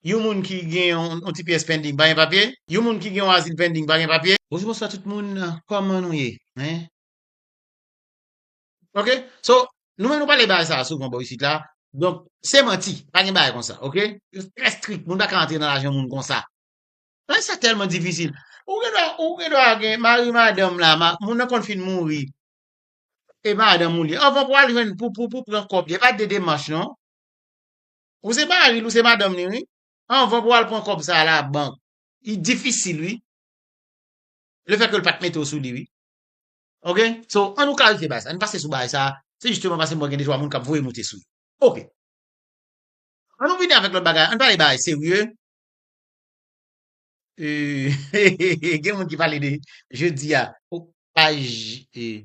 Yon moun ki gen yon ti pyès pending pa gen papye? Yon moun ki gen yon azil pending pa gen papye? Bonjou bonswa tout moun kòman nou ye hein. Ok so nou menm nou pale bagay sa souvan bò isit la donk se manti pa gen bagay konsa ok yo trè strik moun pa ka antre nan lajan moun konsa bagay sa tèlman difisil ou gen dwa ou gen dwa gen mari madanm la moun nan konn fin mouri e madanm ou li anvan pou al jwenn pou pou pou pran kòb li e pa de demach non. Ou se maril ou se madanm li wi anvan pou al pran kob sa la bank. Li difisil wi le fè ke l pat mete w sou li wi ok so an nou klarifye bagay sa n pase sou bagay sa se jisteman pase m wè gen de twa moun kap voye moute sou ok an nou vini avèk lòt bagay an n pale bagay serye eeeeehh gen moun ki pale de jodi a ou pa ji.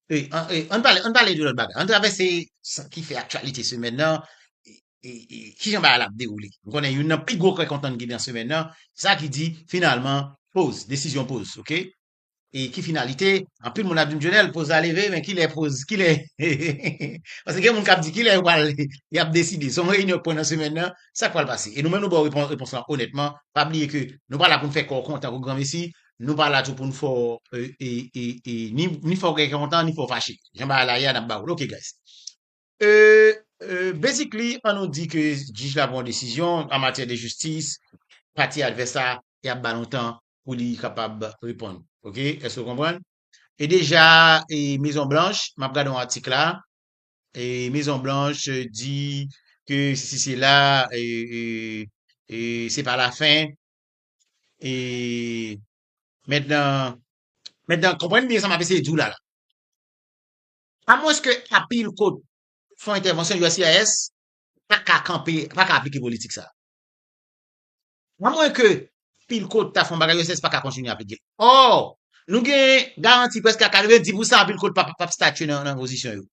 E, an, e, an pale, an pale de lòt bagay. An travèse sa ki fè aktyalite semèn nan, e, e, e, ki jan bagay la ap dewoule. M konnen youn nan pi gwo kè kontan ki gen nan semèn nan, se sa ki di, finalman, poz, desizyon poz, ok? E ki finalite, anpil moun ap di m, Dionel, poz la leve, men ki lè poz, ki lè, paske gen moun kap di ki lè yo pral, yap deside, se yon reyinyon k pran nan semèn nan, sa k pral pase? E nou menm nou ba w repons, repons lan onètman, pa bliye ke nou pa la pou n fè kò w kontan kou granmesi, Nou pa la tou pou nou fè w ni fè w gen kè kontan ni fè w fache. Jan bagay la ye a nap ba ou l ok guys. Basically an nou di ke jij la pran yon desizyon an matyè de jistis pati advès la yap ba l yon tan pou li kapab reponn ok èske ou konprann. E deja mezon blanch map gade yon atik la mezon blanch di ke sesi sela se pa la fen E, mètnan, mètnan, konprann byen sa m ap eseye di w la la. Amwenske Apil kot fon entèvansyon uscis pa ka kanpe, pa ka aplike politik sa a. Amwenke Apil kot ta fon bagay uscis pa ka kontinye aplike l. Ò, nou gen garanti prèske a 90 pou san Apil kot pa p ap statye nan, nan pozisyon yo.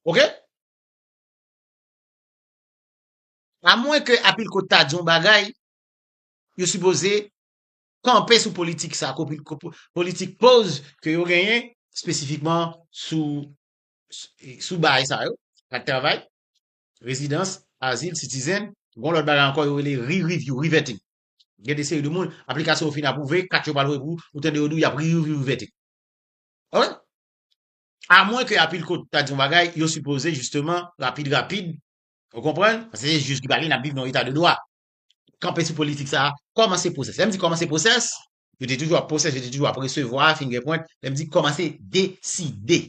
Ok? A mwen ke Apilkot ta di yon bagay, yo sipoze kanpe sou politik sa, politik poz ke yo genyen, espesifikman sou bagay sa yo, ak travay, rezidans, azil, sitizen, gon lòt bagay ankò yo rele re-review, re-vetting. Gen de seri de moun, aplikasyon yo fin apwouve, kat yo pa lwe pou, ou tande yo di w y ap re-review, re-vetting. Alright? A mwen ke Apilkot ta di yon bagay, yo sipoze jisteman, rapid rapid, Ou konprann? Paske se jij ki pale, n ap viv nan yon eta de dwa. Kanpe sou politik sa a, kòmanse pwosès. Lè m di kòmanse pwosès, yo te toujou ap pwosès, yo te toujou ap resevwa, fingè pwent. Lè m di kòmanse deside.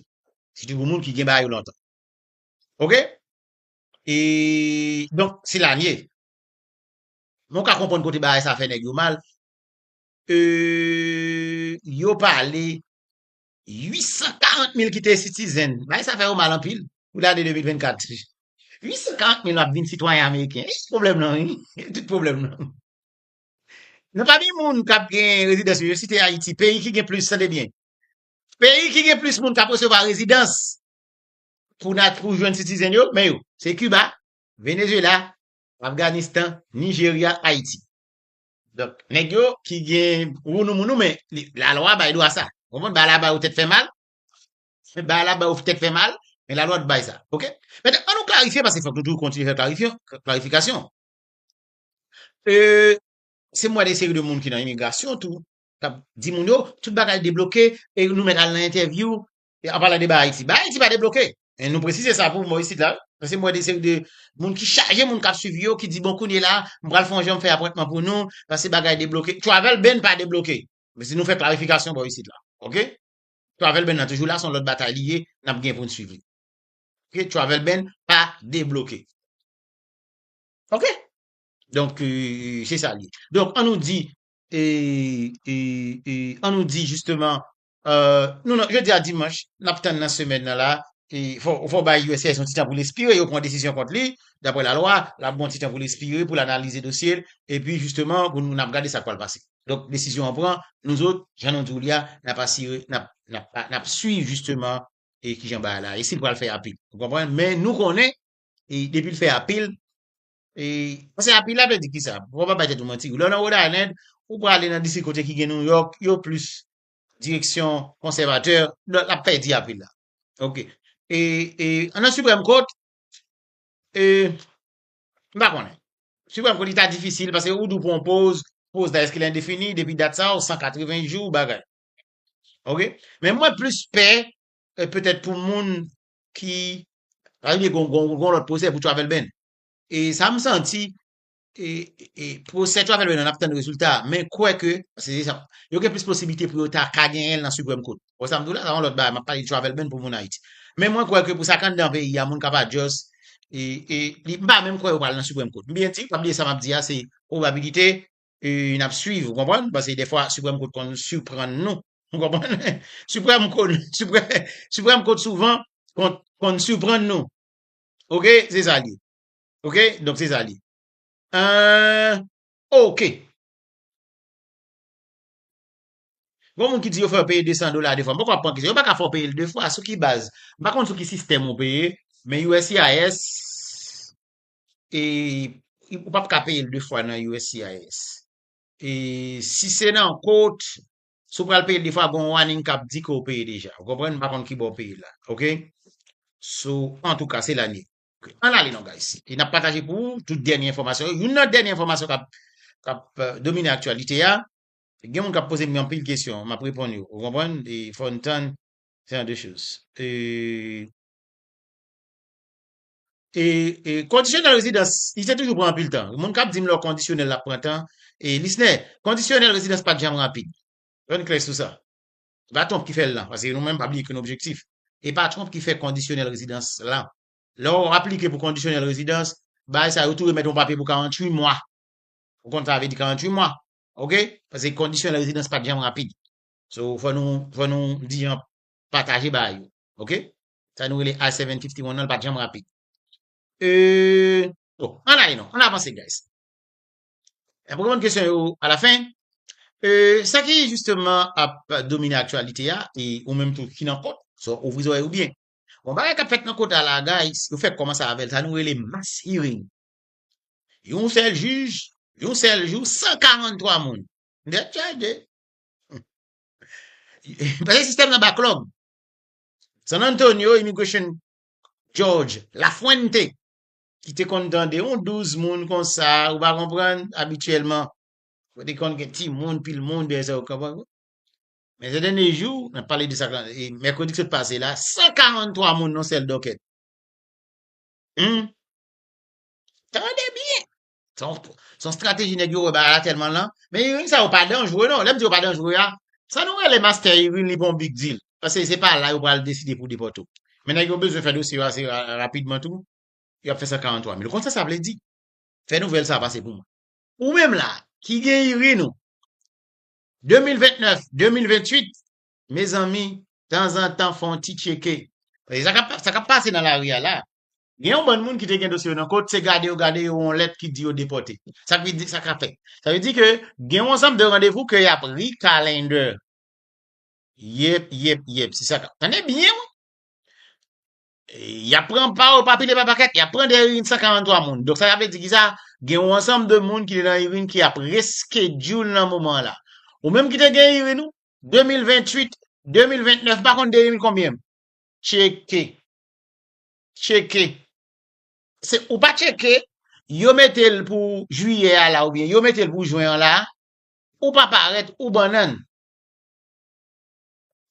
Sitou pou moun ki gen bagay yo lontan. Ok? E, donk, se la n ye. Men w ka konprann kote bagay sa a fè nèg yo mal. E, yo pale 840 mil ki te sitizen, bagay sa fè yo mal anpil pou lane 2024. 840 mil ap vin sitwayen ameriken, e se pwoblèm lan wi, se tout pwoblèm lan. Nan pami moun k ap gen rezidans yo, yo site Ayiti, peyi ki gen plis, tande byen, peyi ki gen plis moun k ap resevwa rezidans pou nat pou jwenn sitizen yo, men yo, se Kiba, Venezyela, Afganistan, Nijerya, Ayiti. Donk nèg yo ki gen wounou mounou men la lwa bay dwa sa. Ou konprann ba la bay ou tèt fè mal, ba la bay ou tèt fè mal men la lwa t bay sa ok. Mèt an nou klarifye paske fòk nou toujou kontinye fè klarifyon klarifikasyon euh se m wè de seri de moun ki nan imigrasyon tou k ap di moun yo tout bagay debloke e nou mèt al nan entèvyou E anpala de ba Ayiti. Ba Ayiti pa debloke. E nou presize sa pou mwen isit la. Pase mwen de seri de moun ki chaje moun kap swiv yo ki di bon kounye la m pral fon jan m fè apwentman pou nou pase bagay debloke. Travel ban pa debloke. Mesi nou fè klarifikasyon bò isit la. Ok. Travel ban nan toujou la son lòt batay li ye nap gen pou n swiv li. Ok travel ban pa debloke. Ok. Donk se sa li ye. Donk an nou di e e e an nou di jisteman Euh, nou nan, jodi a dimanch, nap tann nan semèn nan la, e fò, fò bay USCIS yon ti tan pou l espire, yo pran desizyon kont li, daprè la lwa, lap gen yon ti tan pou l espire, pou l analize dosye l, epi jisteman, pou nou, nap gade sa k pral pase. Donk, desizyon an pran, nou zot, jan nou di w li a, nap asire, nap, nap, nap swiv jisteman, e kijan bagay la ye, si l pral fè apil. Ou konprann? Men, nou konnen, e depi l fè apil, E, paske apil la vle di ki sa, pou w pa bay tèt ou manti, lè w nan Rhode Island, ou prale nan distri kote ki gen New York, yo plis direksyon konsèvatè, lè l ap pèdi apil la. Ok. E, e, an nan Supreme Court, e, m pa konnen. Supreme Court li ta difisil, paske ou dou pou an poz, poz la eske l endefini, depi dat sa ou 180 jou, bagay. Ok. Men mwen plis pè, e, petèt pou moun ki Sa vle di gon gon gon lòt pwosè pou Travel Ban. E sa m santi, e e pwosè Travel Ban an n ap tann rezilta a, men kwè ke paske se sa yo gen plis posiblite pou yo ta ka genyen l nan Siprèm Kot. Ou wè sa m di w la? Sa se yon lòt bagay, m ap pale de Travel Ban pou moun Ayiti. Men mwen kwè ke pou sa k anndan peyi a moun ka pa just e e li m pa menm kwè yo pral nan Siprèm Kot. M byen di, pa bliye sa m ap di a se pwobabilite euh, n ap suiv, ou konprann? Pase defwa Supreme Court konn surprann nou, ou konprann? Supreme Court, Supreme, Supreme Court souvan konn, konn surprann nou. Ok, se sa li. Ok, donk se sa li. Euh, ok. Gon moun ki di yo fè peye 200 dola de fwa. Mwen pa pran ki se, yo pa ka fè peye l de fwa, sou ki baz? Mwen pa konn sou ki sistèm ou peye, men USCIS, ou pap ka peyel 2 fwa nan uscis e si se nan court si ou pral peyel 2 fwa gon warning kap di ke ou peye deja ou konprann m pa konn kibò ou peye la ok so antouka se la n ye ann ale non guys e nap pataje pou ou tout dènye enfòmasyon yo youn nan dènye enfòmasyon kap kap domine aktyalite a gen moun kap pozem anpil kesyon map reponn yo ou konprann e fòn tann se jan de choz e. e kondisyonèl rezidans li se toujou pran anpil tan moun kap dim lò kondisyonèl la pran tan e lisnè kondisyonèl rezidans pat janm rapid yo n klè sou sa e pa twonp ki fèl nan paske nou menm pa bliye ke nou objektif e pa twonp ki fè kondisyonèl rezidans lan lò w aplike pou kondisyonèl rezidans bagay sa yo tou remèt yon papye pou 48 mwa ou konn sa vle di 48 mwa ok paske kondisyonèl rezidans pat janm rapid so fò nou fò nou di jan pataje bagay yo ok Sa nou rele I 751 nan l pat janm rapid. Euh bon an ale non an avanse guys. Nap reponn kesyon yo a la fen. Euh sa ki justement ap domine aktyalite a e ou menm tou ki nan kòt so ouvri zòrèy ou byen. Bon bagay kap fèt nan kota la guys yo fèk kòmanse avèl sa nou rele mass hearing. Yon sèl jij yon sèl jou 143 moun tèt chaje. Pase sistèm nan backlog. San Antonio Immigration Judge Lafuente ki te konn tande yon 12 moun konsa ou pa konprann abityèlman ou te konn gen ti moun pil moun dèyè sa ou konprann men zè dènye jou nan pale de sa mèkredi ki sot pase la 143 moun nan sèl dokèt hum tande byen Son strateji nèg yo wè bagay la tèlman lan. Men Irène sa yo pa danjre non. Lè m di yo pa danjre a, sa nou rele mastè Irène li pa yon big deal. Pase se pa la yo pral deside pou depòte w. Men nèg yo bezwen fè dosye yo ase rapidman tou, yo ap fè 143 mil. Ou konn sa sa vle di? Fè nouvèl sa pase pou mwen. Ou menm la, ki gen Irène ou, 2029, 2028, Mezanmi, tanzantan fon ti tcheke. Paske sa kap, sa kap pase nan lari a la, gen yon bann moun ki te gen dosye yo nan kot, se gade yo gade yo yon lèt ki di yo depòte. Sa vle di, sa ka fèt. Sa vle di ke gen yon ansanm de randevou ke yap re-calendar. Yep, yep, yep. Se sa kap. Tande byen wi! Yap pran pa yo pa pil e pa pakèt, yap pran de irin 143 moun. Donk sa sa vle di ki sa? Gen yon ansanm de moun ki te nan irin ki ap re-schedule nan moman an la. Ou menm ki te gen irin ou, 2028, 2029 m pa konn 2000 konbyen m tcheke, tcheke, se ou pa tcheke yo mete l pou jwiyè a la oubyen yo mete l pou jwen an la, ou pa parèt ou bannann,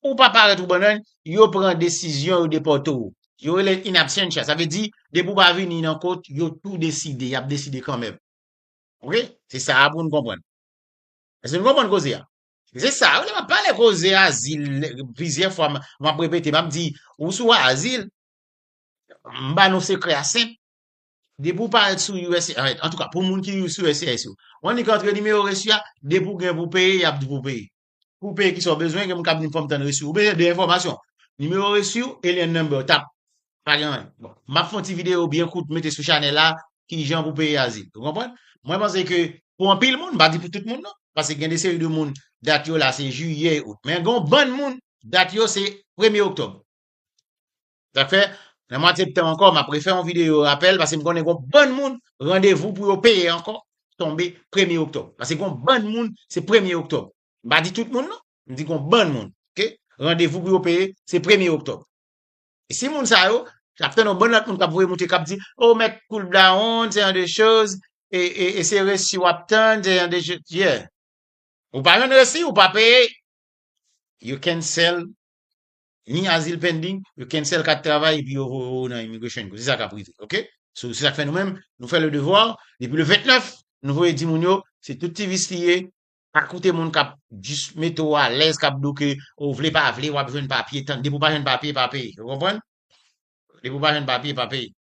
ou pa parèt ou bannann yo pran desizyon yo depòte w, yo rele l in absentia sa vle di depi w pa vini nan kot yo tou deside, y ap deside kanmèm ok, se sa a pou nou konprann, èske nou konprann koze a? Se sa, ou lè map pale koze azil, plizyè fwa map repete, map di, ou sou azil, m ba nou sekrè a senp, depi ou pa sou uscis, an tou ka, pou moun ki sou uscis yo, ou annik antre nimewo resu a, depi ou gen pou peye, yap di pou w peye. Pou w peye kisa w bezwen, gen moun kap di m fòm tann resu, ou bezwen 2 enfòmasyon, nimewo resu w e lien number w tap Pa gen anyen. Bon, m ap fè yon ti videyo byen kout m mete sou chanèl la, ki jan pou peye azil. Ou konprann? Mwen panse ke pou anpil moun, m pa di pou tout moun non, paske gen de seri de moun dat yo la se jiyè e out. Men gen yon bann moun dat yo se premye oktòb. Sa fè, nan mwa septanm ankò, m ap refè yon videyo rapèl, paske m konnen gen yon bann moun randevou pou yo peye ankò tonbe premye oktòb. Paske gen yon bann moun se premye oktòb. M pa di tout moun non, m di gen yon bann moun ke randevou pou yo peye se premye oktòb. Si moun sa yo, lap tann yon bann lòt moun kap voye moute kap di, oh mèt koul bdawonn, se jan de choz, e se resi wap tann, se jan de choz, yeah. Ou pa jwenn resi, ou pa peye, yo cancel ni azil pending, yo cancel kat travay epi yo voye ou nan immigration kou se sa kap rive, ok. So se sak fè nou menm, nou fè le devoir, depi le 29, nou voye di moun yo, se tout ti vis li ye, Pa koute moun kap jis mete w alèz, kap di w ke o vle pa vle wap jwenn papye, tann depi w pa jwenn papye pa peye, ou konprann? Depi w pa jwenn papye pa peye.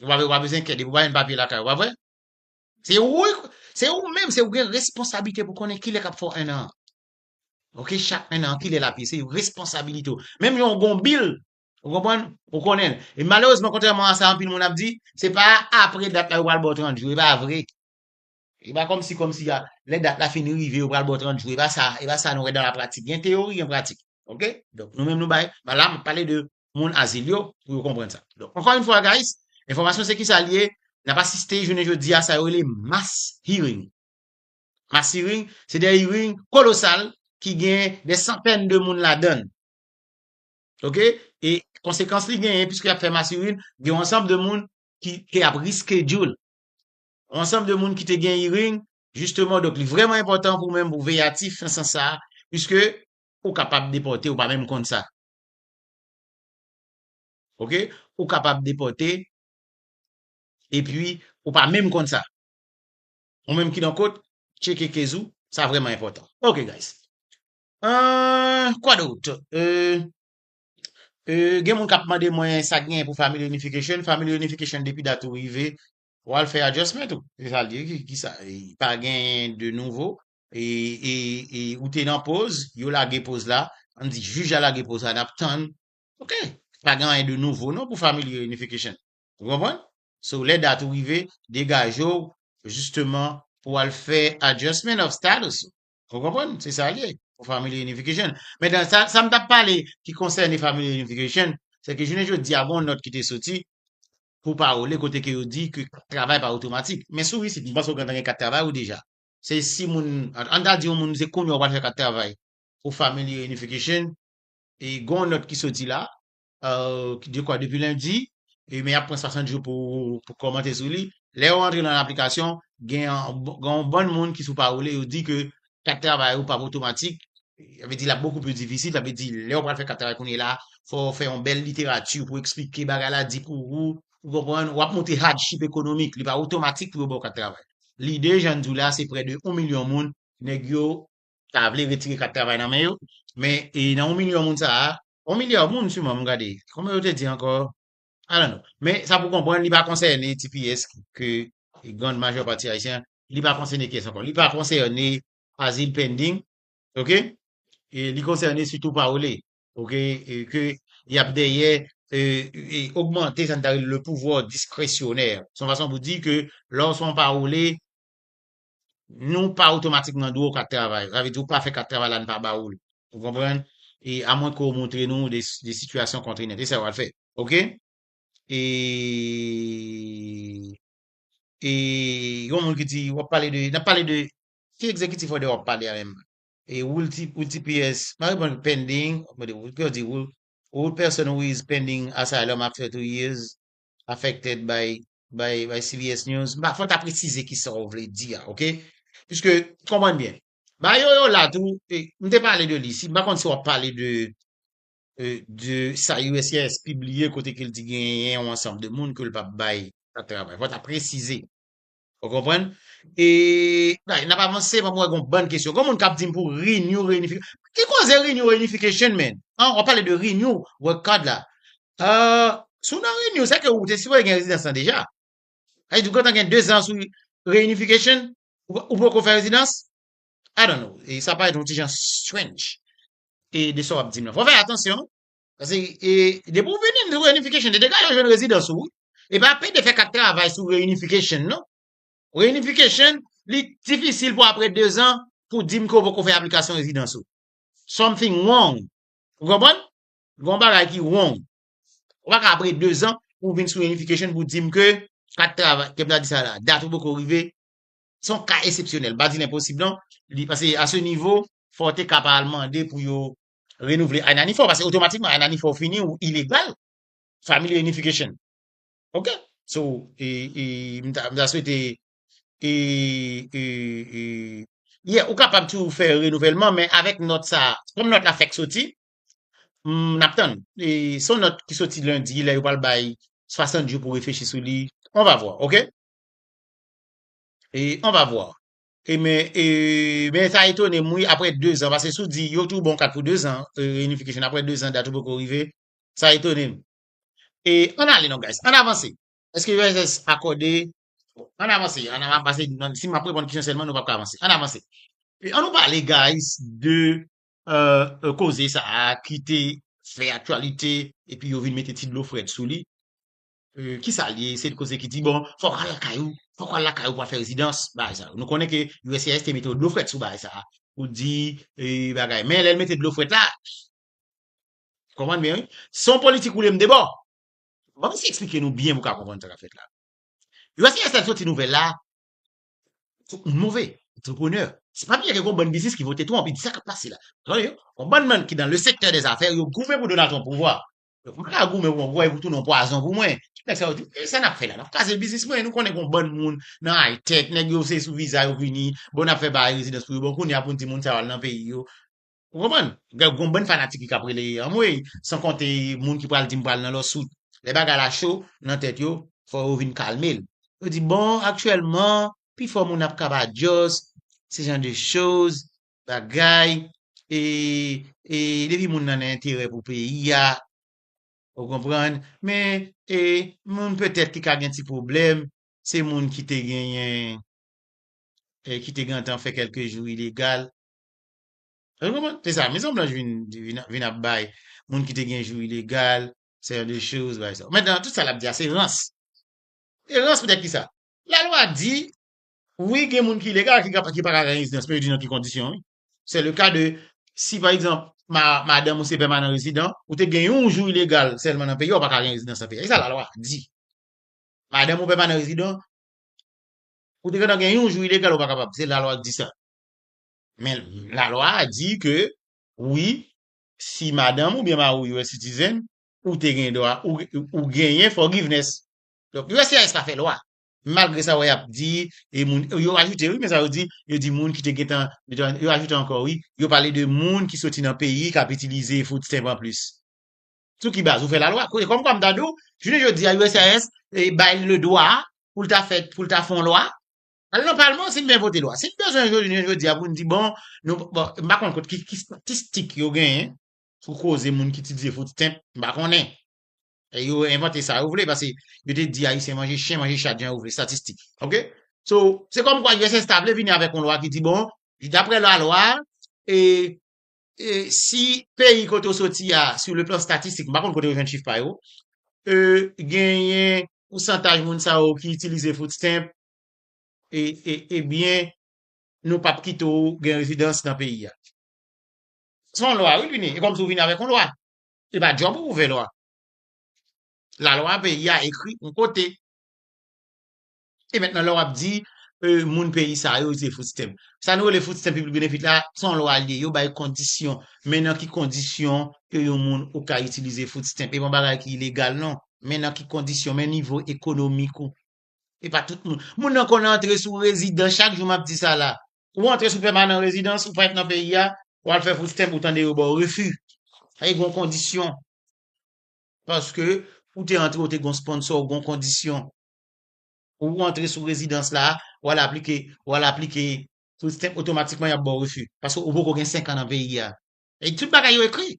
Ou pa ou pa bezwen enkyèt depi w pa jwenn papye lakay ou, pa vre? Se ou wi, se ou menm, se ou gen responsablite pou konnen kilè kap fè w 1 an an. Ok, chak 1 an an kilè lap ye, se responsabilite w. Menm jan ou gen yon bil, ou konprann, ou konnen l. E malerezman kontrèman a sa anpil moun ap di, se pa apre dat la yo pral ba w 30 jou, e pa vre. E pa kòmsi kòmsi a, lè dat la fin rive yo pral ba w 30 jou, e pa sa, e pa sa nou wè dan la pratik. Gen teyori, gen pratik. Ok? Donk nou menm nou bay, ba la map pale de moun azil yo pou yo konprann sa. Donk ankò yon fwa guys, enfòmasyon se kisa li ye, nap asiste jounen jodi a sa yo rele mass hearing. Mass hearing, se de hearing kolosal ki gen de santèn de moun ladann. Ok? E konsekans li genyen, piske yap fè mass hearing, gen yon ansanb de moun ki ap reschedule. ansanm de moun ki te gen hearing jisteman donk li vrèman enpòtan pou menm pou veye atif nan sans sa piske ou kapab depòte ou pa menm konn sa ok ou kapab depòte epi ou pa menm konn sa ou menm ki nan kot tcheke kez ou sa vrèman enpòtan ok guys eeuh kwa dot eeuh eeuh gen moun kap mande mwen sa gen pou family reunification family reunification depi dat ou rive Ou al fè adjustment ou. Se sa l di ki sa pa gen de nouvo e ou te nan poz yo lage poz la an di jij la lage poz la nap tann ok pa gen anyen de nouvo non pou family reunification ou konprann so lè dat ou rive degaje w jisteman pou al fè adjustment of status ou ou konprann se sa l ye pou family reunification men dan sa sa m tap pale ki konsène family reunification se ke jounen jodi a gon nòt ki te soti pou pawole kote ke yo di ke kat travay pa otomatik. Men sou isit, m panse ou gentan gen kat travay ou deja. Se si moun, an ta di yon moun se kounye ou pral fè kat travay pou Family Reunification, e gen yon nòt ki soti la, je kwa depi lendi, e men y ap pran 60 jou pou pou kòmante sou li. Lè ou rantre nan aplikasyon, gen yon bann moun ki sou pawole yo di ke kat travay ou pap otomatik, sa vle di lap bokou pli difisil, sa vle di lèw pral fè kat travay kounye la, fòw fè yon bèl literati pou eksplike bagay la, di pou ou, ou konprann, wap montre hardship ekonomik, li pa otomatik pou yo baw kat travay. Lide jann di w la se prè de 1 milyon moun nèg yo ta vle retire kat travay nan men yo, men nan 1 milyon moun sa a, 1 milya moun siman m gade, konbyen yo te di ankò? I don't know. Men, sa pou konprann, li pa konsène tps ke grand majè pati Ayisyen, li pa konsène kiyès ankò? Li pa konsène azil pending, ok? Li konsène sitou pawole, ok, ke y ap dèyè ogmante sa nou ta rele le pouvoir discrétionnaire. S on fason pou di ke lè w s on pawole, nou pa otomatikman dwe w kat travay. Sa vle di ou pa fè kat travay la n pa ba ou l. Ou konprann? E amwen ke ou montre nou de sitiyasyon kontreynant. E sa w al fè. Ok? E E gen yon moun ki di w ap pale de, n ap pale de ki egzekitif òdè w ap pale a menm? E rule TPS m ap reponn pending, kè w di rule, rule person who is pending asylum after two years affected by bay bay CBS News, m pa fò w ta presize ki sa w vle di a, ok? Piske, konprann byen, Bayo yo la tou, e m te pale de li, si m pa konn si w ap pale de e de sa uscis pibliye kote ke l di genyen yon ansanm de moun ke l p ap bay ap travay. Fò w ta presize. Ou konprann? E, bay, n ap avanse paske m wè gon bann kesyon. Gon moun k ap di m pou Renew Reunification. Ki koze Renew Reunification, man? An, w ap pale de Renew Work Card la. Ahh si w nan renew sa ke ou te sipoze gen rezidans lan deja sa vle di ou gentan gen 2 ans sou reunification ou poko fè rezidans I don't know e sa parèt yon ti jan strange e de sa wap di m nan fò fè atansyon pase e depi ou vini sou reunification de degaje w jwenn rezidans ou wi e pa pede fè kat travay sou reunification non reunification li difisil pou aprè 2 ans pou di m ke ou poko fè aplikasyon rezidans ou something wrong ou konprann Gon bagay ki wrong. Ou pa ka apre 2 zan pou vin sou unification pou dim ke kat travay, ke m ta di sa la, dat ou poko rive. Se yon ka esepsyonèl, m pa di l enposib non. Li pase a se nivo fò te ka pa al mande pou yo renouvle INANIF ou, pase otomatikman INANIF ou fini ou ilegal. Family unification. Ok. So, e, e, m ta, m ta swete e, e, e, ye, ou kapab toujou fè renouvèlman men avèk nòt sa a, kòm nòt la fèk soti, M ap tann. E se yon nòt ki soti lendi lè yo pral bay 60 jou pou reflechi sou li. On va voir, ok? E on va voir. E men e men sa etone m wi aprè 2 zan pase si w di yo tou ba w kat pou 2 zan reunification aprè 2 zan dat ou poko rive sa etone m. E ann ale non guys, ann avanse. Eske USS akòde Ann avanse, ann avanse si m ap reponn kesyon sèlman nou pap ka avanse. Ann avanse. An nou pale guys de koze sa a ki te fè aktyalite epi yo vin mete ti dlo frèt sou li, ki sa l ye? Se yon koze ki di, bon, fò w al lakay ou, fò w al lakay ou pou w al fè rezidans, bagay sa yo. Nou konnen ke uscis te mete yon dlo frèt sou bagay sa a pou di bagay. Men, lè l mete dlo frèt la, ou konprann byen wi, se yon politik woule m debò. Bon, m esi eksplike nou byen pou w ka konprann sa k ap fèt la. Uscis lè l soti nouvèl la, Tout moun move, antreprenè. Se pa byen gen yon bann biznis ki vote Trump, li di sa k ap pase la. Tande yo, yon bann moun ki nan le sektè dè zafè, yo goumen pou Donald Trump pouvwa. Donk mwen ka goumen pou mwen pouvwa epi w tounen yon pwazon pou mwen. Tout nèg sa yo di, men sa n ap fè la? N ap kraze biznis mwen? Nou konnen gen yon bann moun nan High-Tech, nèg yo se sou viza yo vini, bon n ap fè bagay rezidans pou yo, bon kounye a pou n di moun sa yo al nan peyi yo. Ou konprann? Gen yon bann fanatik li k ap rele anmweyy, san konte moun ki pral di m pral nan lawsuit. Lè bagay la cho nan tèt yo, fò yo vin kalme l. Yo di bon, aktyèlman, pifò moun ap kabadyòs, se jan de choz, bagay, e, e depi moun nan nan enterè pou peyi a, ou konprann, men, e, moun petèt ki ka gen ti pwoblèm, se moun ki te genyen, e ki te gentan fè kèlke jou ilegal. Èske nou konprann? Se sa, Mezon Blanch vin, vin, vin ap bay moun ki te gen jou ilegal, sè de choz, bay sa. Mentnan, tout sa l ap di a, se rans. E rans poutèt ki sa? Lalwa di, wi gen moun ki ilegal ki kab, ki pa ka gen rezidans, men yo di nan ki kondisyon wi. Se le ka de, si pa egzanp, ma, madanm ou se pèmanan rezidan, ou te gen yon jou ilegal sèlman nan peyi a, ou pa ka gen rezidans nan peyi a. Se sa lalwa di. Madanm ou pèmanan rezidan, ou te gentan gen yon jou ilegal ou pa kapab. Se lalwa ki di sa. Men lalwa a di ke wi si madanm oubyen mari w US citizen ou te gen dwa ou genyen forgiveness. Donk uscis pa fè lwa. Malgre sa wè y ap di e moun yo ajoute wi men sa yo di yo di moun ki te gentan yo ajoute ankò wi yo pale de moun ki soti nan peyi k ap itilize food stamp anplis. Sou ki baz ou fè lalwa? Se kòmkwa m ta di w jounen jodi a uscis bay l le dwa pou l ta fè pou l ta fon lwa Al nan palman si n vle vote lwa. Si n bezwen jounen jodi a pou n di bon, nou, bon, m pa konn kot ki, ki statistik yo genyen sou koze moun ki itilize food stamp, m pa konnen. E yo envante sa yo vle pase yo te di Ayisyen manje chen, manje chat jan yo vle, statistik. Ok? So, se kòm kwa uss ta vle vini avèk yon lwa ki di bon, daprè lalwa, e, e si peyi kote ou soti a, sou le plan statistik, m pa konn kote yo jwenn chif pa yo, e genyen pousantaj moun sa yo ki itilize food stamp, e byen nou pap kite w gen rezidans nan peyi a. Se yon lwa wi Pini, e kòmsi w vini avèk yon lwa. Se pa djòb ou pou fè lwa. Lalwa peyi a ekri yon kote. E mètnan lè w ap di moun peyi sa yo se food stamp. Sa nou rele food stamp public benefit la, se yon lwa li ye. Yo bay kondisyon. Men nan ki kondisyon ke yon moun ou ka itilize food stamp. E pa yon bagay ki ilegal non. Men nan ki kondisyon, men nivo ekonomik ou. E pa tout moun. Moun nan konn antre sou rezidan chak jou map di sa la. Ou antre sou pèmanan rezidans ou pa ret nan peyi a, ou al fè food stamp ou tande yo baw refi. Sa e gon kondisyon. Paske ou te antre ou te gon sponsor ou gon kondisyon. Ou antre sou rezidans la, ou al aplike, ou al aplike food stamp otomatikman yap baw refi. Paske ou poko gen 5 an nan peyi a. E tout bagay yo ekri.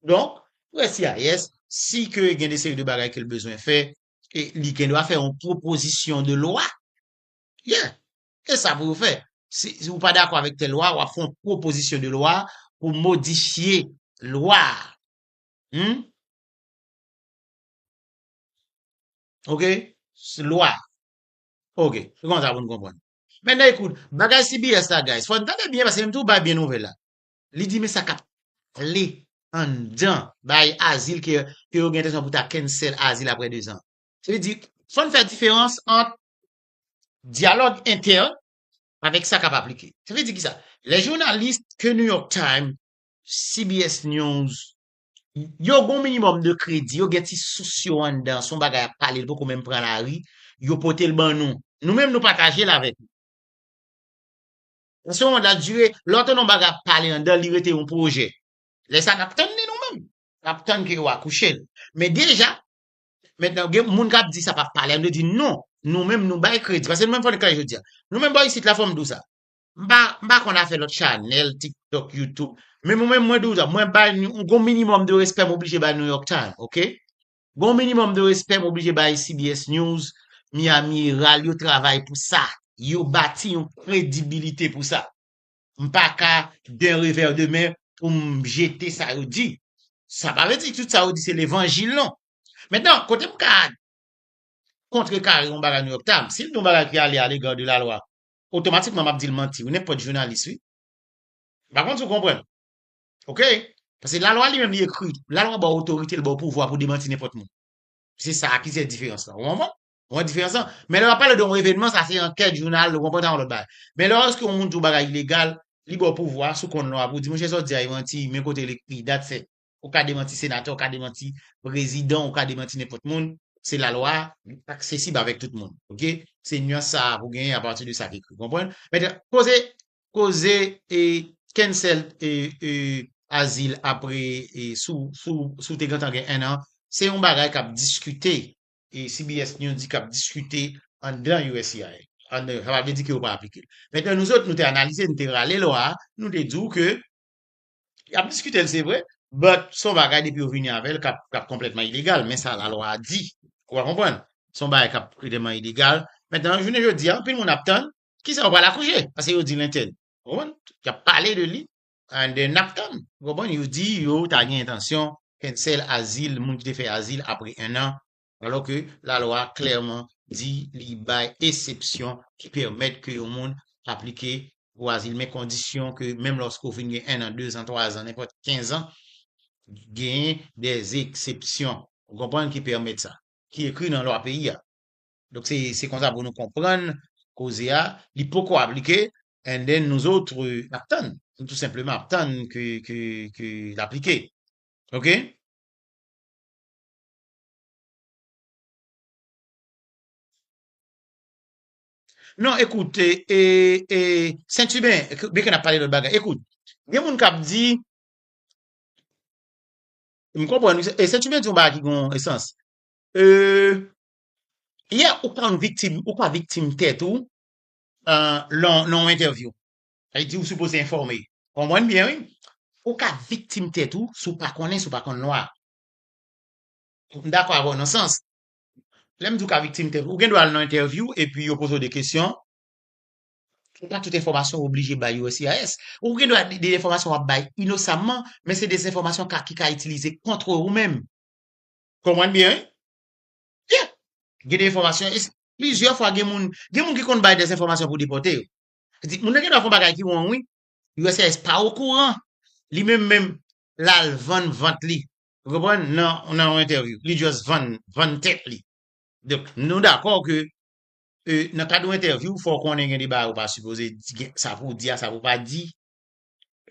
Donk, USCIS si ke gen de seri de bagay kel bezwen fè, E li gen dwa fè yon pwopozisyon de lwa. Yeah! E sa pou yo fè. Si ou pa dakò avèk tèl lwa, w ap fè yon pwopozisyon de lwa pou modifye lwa a. Hum? Ok? Se lwa. Ok. Se konsa pou nou konprann. Mètnen ekout, bagay CBS la guys, fò n tande byen paske m tou bay byen nouvèl la. Li di men sa kap pale anndan bay azil ke yo gen entensyon pou ta cancel azil aprè 2 zan. Sa vle di, fò n fè diferans ant dyalòg entèn avèk sa kap aplike. Sa vle di kisa? Lè jounalis ke New York Times, CBS News, yo gen yon minimòm de kredi, yo gen ti sous yo anndan, se yon bagay yap pale, li poko menm pran lari, yo pote l ban nou. Nou menm nou pataje l avèk nou. Paske yon dat dire, lè w tann yon bagay ap pale anndan l, li rete yon pwojè. Lè sa n ap tann li nou menm. N ap tann ke yo akouche l. Men deja, mentnan gen moun k ap di sa pa pale, m te di non, nou menm nou bay kredi. Paske nou menm fò n klè jodi a. Nou menm bò isit la fò m di w sa. M pa, m pa konn afè lòt chanèl, TikTok, YouTube. Men mwen menm mwen di w sa, mwen bay, gon minimòm de respè m oblije bay New York Times, ok? Gen yon minimum de respect m oblije bay CBS News, Miami Herald yo travay pou sa. Yo bati yon kredibilite pou sa. M pa ka d'un revers de main pou m jete sa yo di. Sa pa vle di tout sa yo di se levanjil non. Mentnan kote m ka kontrekare yon bagay New York Times, si l di yon bagay ki ale a l'égard de la loi, otomatikman m ap di l manti wi, nenpòt jounalis wi. M pa konn si w konprann. Ok? Pase la lwa li menm li ekri. La lwa ba otorite, li ba pouvwa pou demanti nenpòt moun. Se sa ki se diferans la. Ou konprann? Ou konprann diferans la? Men lè wap pale de yon evenman, sa se ankèt, jounal, ou konprann sa yon lòt bagay. Men lè èske yon moun di yon bagay ilegal, li ba w pouvwa sou konn lwa pou di monchè sa w di a e manti, men kote l ekri, that's it. Ou ka demanti senatè, ou ka demanti prezidan, ou ka demanti nenpòt moun. Se la lwa, li aksesib avèk tout moun. Ok? Se nuance sa a pou genyen apati de sa ki ekri. Ou konprann? Mèt, koze, koze e cancelled e e azil apre e sou sou sou te gentan gen 1 an se yon bagay kap diskite e CBS News di kap diskite anndan uscis an sa pa vle di ke yo pa aplike l mentnan nou zot nou te analize nou te rale lwa a nou te di w ke yap diskite l se vre but se yon bagay depi yo vini avè l kap kap konplètman ilegal men sa la lwa a di ou a konprann se yon bagay kap konplètman ilegal mentnan jounen jodi a anpil moun ap tann Ki sa yo pral akouche? Paske yo di l entèdi. Ou konprann? Y ap pale de li and then n ap tann. Ou konprann? Yo di yo ta gen entansyon cancel azil moun ki te fè azil apre ennan alò ke lalwa klèman di li bay esepsyon ki pèmèt ke yon moun aplike pou azil men kondisyon ke menm lòske ou fin gen ennan, dezan, twazan, nenpòt kenzan genyen dèzepsyon ou konprann ki pèmèt sa ki ekri nan lwa peyi a. Donk se se konsa pou nou konprann koze a, li poko aplike and then nous autres n ap tann, nou tou senpleman ap tann ke ke ke l aplike ok. Non ekout e e e Sentuben byen ke n ap pale lòt bagay ekout gen moun k ap di m konprann wi e Sentuben di yon bagay ki gon e sans e Yeah ou pa yon viktim ou pa viktim tèt ou lan yon entèvyou sa di ou sipoze enfòme konprann byen wi ou ka viktim tèt ou si w pa konnen si w pa konn lwa m dakò avè w nan yon sans lè m di ou ka viktim tèt ou ou gen dwa al nan entèvyou epi yo poze w de kesyon se pa tout enfòmasyon ou oblije bay uscis ou gen dwa gen enfòmasyon w ap bay inosamman men se de enfòmasyon ki ka itilize kontre ou menm konprann byen wi. Yeah! Gen de enfòmasyon, e se plizyè fwa gen moun, gen moun ki konn bay de enfòmasyon pou depòte yo. Yo di, moun nan gen dwa fè yon bagay ki wrong wi. USCIS pa okouran. Li menm menm, l al vann vant li. Ou konprann? Nan, nan yon entèvyou. Li just vann, vann tèt li. Donk, nou dakò ke, e, nan kad yon entèvyou, fò w konnen gen de bagay ou pa sipoze di, gen sa pou w di a, sa pou w pa di.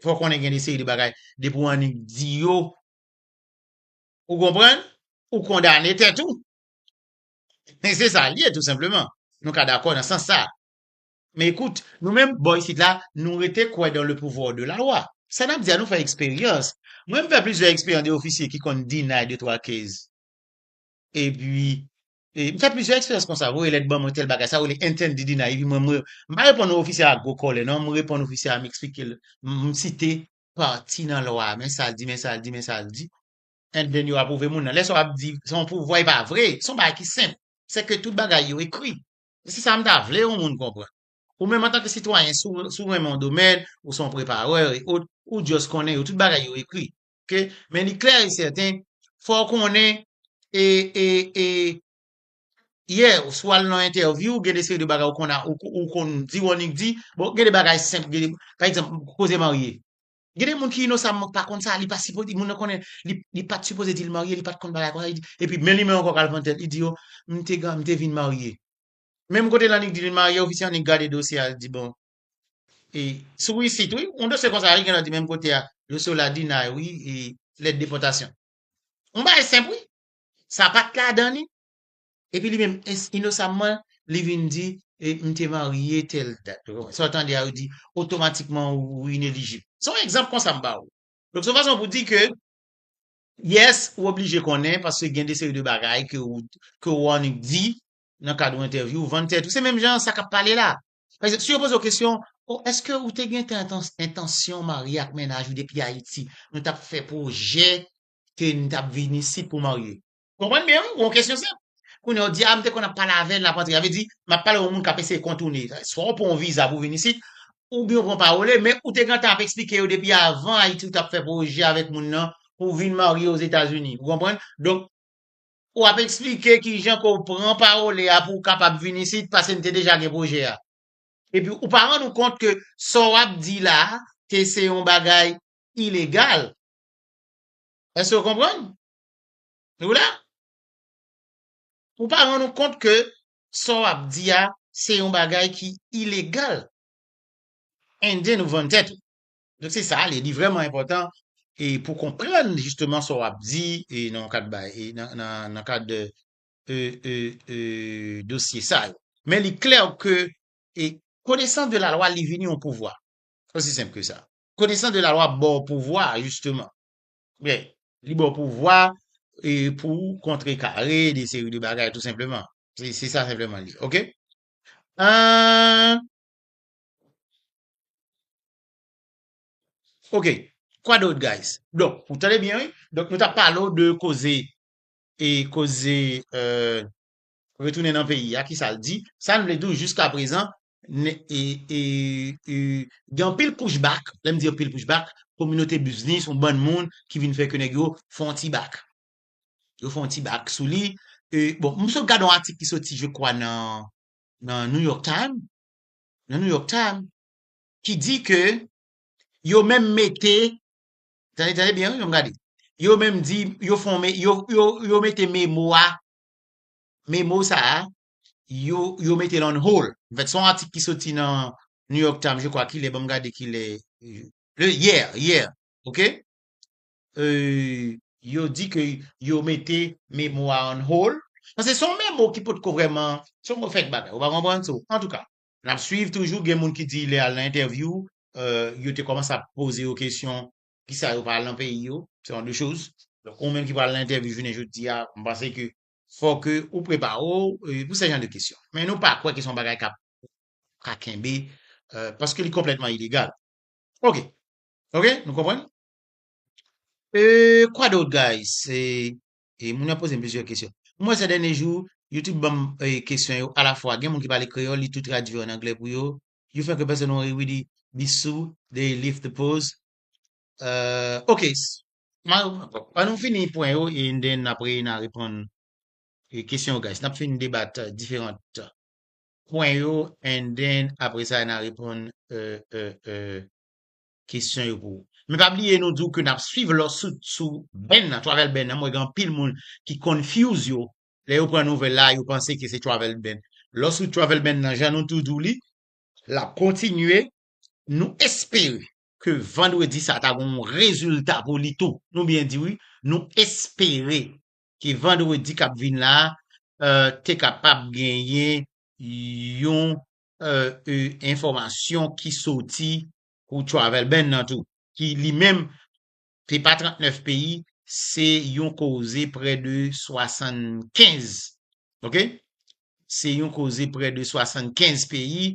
Fò w konnen gen de seri de bagay, depi w annik di yo, Ou konprann? Ou kondane tèt ou. Men se sa l ye tou senpleman. Nou ka dakò nan sans sa a. Men ekout, nou menm bò isit la, nou rete kwè dans le pouvoir de la loi. Sa n ap di a nou fè eksperyans. Mwen m fè plizyè eksperyans de ofisye ki konn deny de twa case. Epi, e, m fè plizyè eksperyans konsa. Voye lèt ban mwen tèl bagay. Sa rele intended deny. Epi mwen, mwen, m pa reponn ofisye a ak gwo kòlè non. M reponn ofisye a, m eksplike l, m site pati nan lwa a, men sa l di, men sa l di, men sa l di, and then yo apwouve moun nan. Lè sa w ap di se yon pouvwa e pa vre, se yon bagay ki senp, se ke tout bagay yo ekri. E se sa m ta vle yon moun konprann. Ou menm antanke sitwayen, si w si w renmen yon domèn, ou se yon preparè e ot, ou just konnen yo, tout bagay yo ekri. Ke, men li klè e sèten, fò w konnen e, e, e, yè ou si wal nan entèvyou gen de seri de bagay ou konn ou konn di wònik di bon gen de bagay senp gen de pa egzanp koze marye gen de moun ki inosamman pa konn sa li pa sipoze moun nan konnen li pat sipoze dil marye li pat konn bagay konsa epi men li menm ankò kal vann tèt li di yo m te m te vin marye menm kote la nèg di li marye ofisye an nèk gade dosye a li di bon e sou isit wi yon dosye konsa wi gen lòt di menm kote a dosye w la di nay wi e lèt depòtasyon yon bagay senp wi Sa pat ladan li? Epi li menm ins inosamman li vin di e m te marye tèl dat. Ou konprann? Sa w tande a yo di otomatikman ou inelijib. Se yon egzanp konsa m ba ou. Donk se yon fason pou di ke yes ou oblije konnen paske gen de seri de bagay ke ou ke ou annik di nan kad yon entèvyou ou vann tèt ou. Se menm jan sa k ap pale la. Pa egzanp si yo poze w kesyon oh eske ou te gentan entansyon marye ak mennaj ou depi Ayiti? Nou t ap fè pwojè ke n tap vin isit pou marye. Ou konprann byen wi, ou gen yon kesyon senp. Kounye a ou di a m te konn ap pale avè l lap antre. Sa vle di map pale yon moun kap eseye kontoune. Swa ou pran yon viza pou vin isit, oubyen ou pran parole, men ou te gentan ap esplike yo depi avan Ayiti ou tap fè pwojè avèk moun nan pou w vin marye Ozetazini. Ou konprann? Donk, ou ap esplike kijan ke w pran parole a pou w kapab vin isit pase n te deja gen pwojè a. Epi ou pa rann ou kont ke sa w ap di la a te se yon bagay ilegal. Èske ou konprann? Nou la? Ou pa rann ou kont ke sa w ap di a se yon bagay ki ilegal. Indien ou vann tèt ou. Donk se sa, li vrèman enpòtan e pou konprann jisteman sa w ap di e nan kad bay e nan kad e e e dosye sa yo. Men li klè ke e konesans de la lwa li vini yon pouvwa. Osi senp ke sa. Konesans de la lwa ap baw pouvwa jisteman. Byen, li baw pouvwa e pou ou kontre kare de seri de bagay tou senpleman. Se sa senpleman li ye. Ok? Ahh. Ok, kwa dot guys? Donk, ou tande byen wi? Donk nou tap pale w de koze e koze euh retounen nan peyi a, kisa l di? Sa n vle di w jiskaprezan gen anpil pushback, lè m di anpil pushback, kominote biznis, yon bann moun ki vin fè ke nèg yo fè yon ti bak. Yo fè yon ti bak sou li. Bon, m sot gade yon atik ki soti je kwa nan New York Times, nan New York Times, ki di ke yo menm mete, tande, tande byen wi, an n gade, yo menm di, yo fè yon, yo mete memo a, memo sa a, yo yo metel on hold an fèt son atik ki soti nan New York Times je kwa kilè banm gade kilè le hier hier ok euh yo di ke yo mete memo a on hold pase son memo ki potko vrèman son memo fèk bagay ou pa konprann so antouka nap swiv toujou gen moun ki di lè al nan entèvyou euh yo te kòmanse ap poze yo kesyon kisa yo pa al nan peyi yo se on de choz donk ou menm ki pral nan entèvyou jounen jodi a m panse ke fò ke ou prepare w pou se jan de kesyon. Men nou pa kwè ke se yon bagay kap ka kenbe, paske li konplètman ilegal. Ok. Ok, nou konprann? Eee, kwa dot guys? E, moun yo ap poze m plizyè kesyon. M wè sè dènye jou, yo tout ban m kesyon yo alafwa. Gen moun ki pale kreyòl, li tou tradui an anglè pou yo. You fè ke pèsonn wonri widi, bissou, dey lift the pose. Euh ok ma an nou fini pwen yo e nden n ap re na reponn e kesyon yo guys n ap fin debat diferant pwen yo and then apre sa na reponn e e e kesyon yo pou men pa bliye nou di w ke n ap swiv lò sou sou band nan travel band nan m wè gen anpil moun ki confuse yo lè yo pran nouvèl la yo panse ke se travel band lò sou travel band nan jan nou tou di w li l ap kontinye nou espere ke vandredi sa ta gon yon rezilta pou li tou. Nou byen di wi, nou espere ke vandredi k ap vin la a te kapab genyen yon enfòmasyon ki soti pou travel ban nan tou, ki li menm se pa 39 peyi, se yon koze prè de 75, ok, se yon koze prè de 75 peyi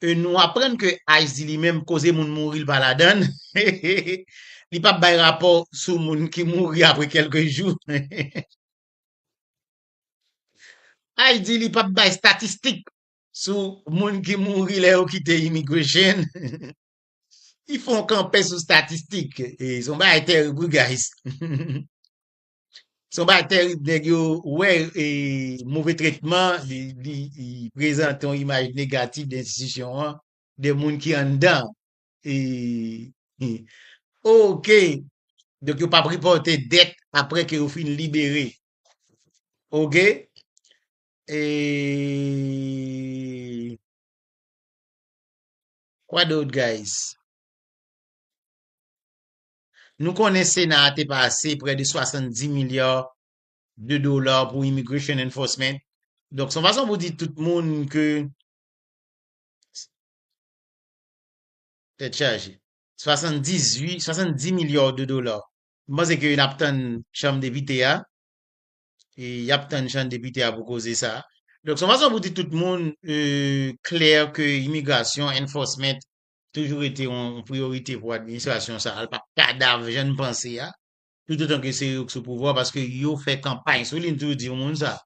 e nou aprann ke Ice di li menm koze moun mouri li pa ladann, li pap bay rapò sou moun ki mouri apre kelke jou. Ice di li pap bay statistik sou moun ki mouri lè yo kite immigration. Li fè yon kanpe sou statistik. Se yon bagay terib wi guys. Se yon bagay terib nèg yo wè e move tretman li prezante yon imaj negatif de enstitisyon an, de moun ki anndan e ok donk yo pap repòte dèt aprè ke yo fin libere ok e kwa dot guys. Nou konnen Sena a te pase prè de 70 milya de dola pou Immigration Enforcement. Donk, se yon fason pou di tout moun ke tèt chaje. 78, 70 milya de dola. M panse ke n ap tann Chanm Depite a. E y ap tann Chanm Depite a pou koze sa. Donk, se yon fason pou di tout moun klè ke Immigration Enforcement toujou rete yon priyorite pou administrasyon sa a, l pa kadav jan n panse a, toutotan ke se yo k sou pouvwa a, paske yo fè kanpay sou li, m toujou di moun sa.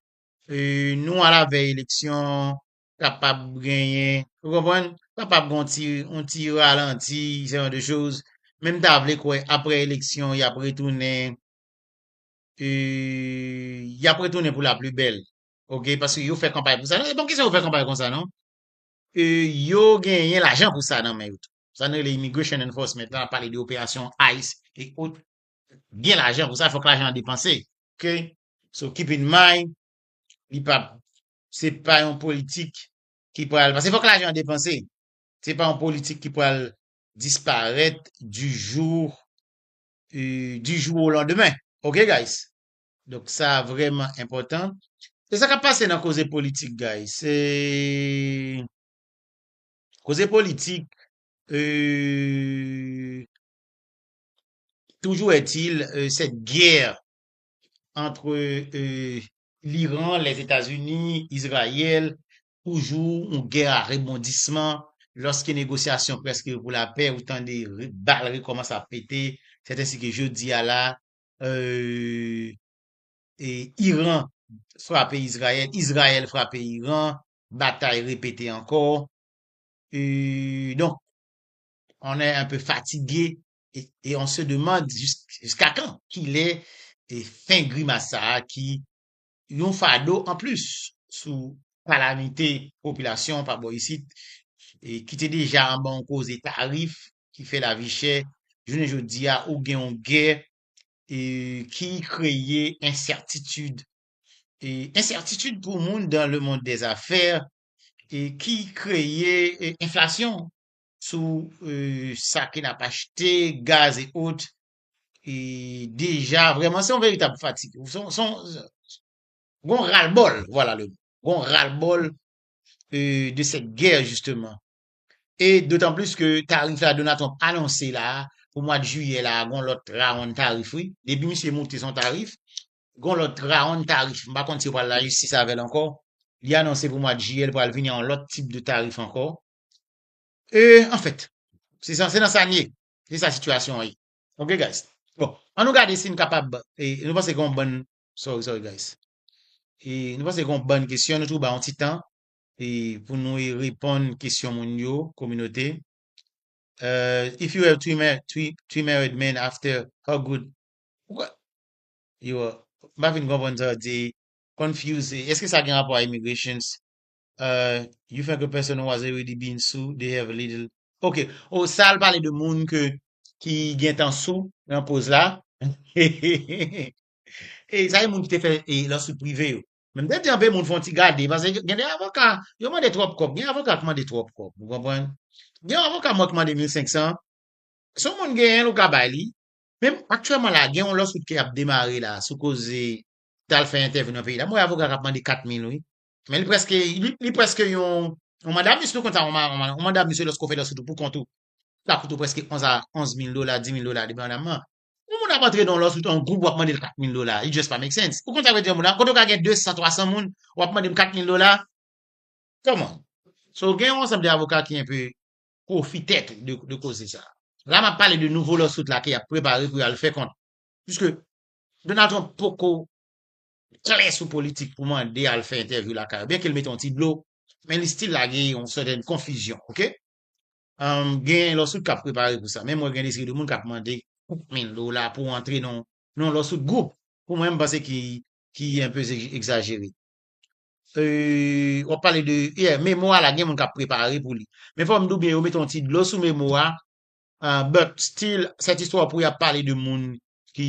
Nou alavèy eleksyon, kapab genyen, ou konprann, kapab gen yon ti ralanti, se jan de choz, men m ta vle kwè aprè eleksyon y ap retounen, y ap retounen pou laplibèl, ok, paske yo fè kanpay pou sa, se pa yon kesyon yo fè kanpay konsa non. E yo genyen lajan pou sa nan men yo tou. Sa nou rele Immigration Enforcement la, n ap pale de operasyon ice e ot, gen lajan pou sa, fòk lajan an depanse. Ok, so keep in mind, li pa, se pa yon politik ki pral, paske fòk lajan an depanse. Se pa yon politik ki pral disparèt du jour, du jour au lendemain. Ok guys? Donk sa a vrèman enpòtan. Se sa k ap pase nan koze politik guys. Se koze politik eeuh toujours est-il cette guerre entre l'Iran, les Etats-Unis, Israël toujou yon gè a rebondisman lòske negosyasyon prèske pou lapè ou tande bal rekòmanse ap pete sèt ensi ke jodi a la Iran frape Izrayèl, Izrayèl frape Iran, batay repete ankò. Donk, on è anpe fatige e on se demand jiska kan? Kilè fen grimas sa a ki yon fado anplis sou kalamite popilasyon an pa bò isit ki te deja anba yon koze tarif ki fè lavi chè, jounen jodi a ou gen yon gè ki kreye ensètitid, ensètitid pou moun dan le mond dè zafè ki kreye enflasyon sou sa ke n ap achte, gaz e ot Et déjà, vraiment, c'est un véritable fatigue. Son, son, gon ras-le-bol, voilà le mot. Gon ras-le-bol euh, de cette guerre, justement. Et d'autant plus que tarif la Donald Trump annoncé là, pou mwa de juillet là, gon lòt rawonn tarif wi. Depi misye moute son tarif, gon lòt rawonn tarif. M pa konn si yo pral la jistis avè l ankò. Li anonse pou mwa de juillet l pral vini an lòt tip de tarif ankò. Euh, en fait, se san, se nan sa n ye. Se sa sitiyasyon an ye. Ok guys. Bon, an nou gade si nou kapab, nou panse gen yon bann, sorry sorry guys. E nou panse gen yon bann kesyon, nou toujou bay yon ti tan e pou nou e reponn kesyon moun yo, kominote. Euh, if you have three ma three three married men after how good Poukwa Yo, m pa fin konprann sa w di. Confused, eske sa gen rapò a immigrations? Euh you fè ke pèsonn was already been sou they have a little ok oh sa al pale de moun ke ki gentan sou nan koz la hehehehe e sa e moun ki te fè e lawsuit prive yo men m te di anpe moun fon ti gade pase gen de avoka yo mande twòp kòb gen avoka ki mande twòp kòb ou konprann gen yon avoka mwen ki mande 1500 si yon moun genyen l ou ka bay li men aktyèlman la gen yon lawsuit ki ap demare la sou koze t al fè entèvyou nan peyi la m wè avoka k ap mande 4000 wi Men li preske, li preske yon, yon manda mis nou konn sa, yon manda mis se lòs kon fè lòs ou tou pou kont ou. Sa koute ou preske 11 a 11 mil dola, 10 mil dola depi an dam man. Yon moun ap antre nan lòs ou tou an gwoup wap mande l 4 mil dola, it just pa make sense. Ou konn sa vle di yon moun la, kote ou ka gen 200, 300 moun, wap mande m 4 mil dola, come on. So gen yon ansanm de avoka ki enpe pwofitè tou de, de koze sa. La map pale de nouvo lòs out la ke yap prepare pou yal fè kont, puiske Donald Trump poko klè sou politik pou mande al fè entèvyou lakay yo, byenke l mete yon ti dlo, men li stil lage yon sèten konfizyon, ok. Gen lawsuit k ap prepare pou sa, menm wè gen de seri de moun k ap mande kèk mil dola pou antre nan yon lawsuit gwoup, pou mwen m panse ki enpe egzajere. W ap pale de, yeah, memo a la gen moun k ap prepare pou li. Men fò m di w byen yo mete yon ti dlo sou memo a, but stil sèt istwa pou y ap pale de moun ki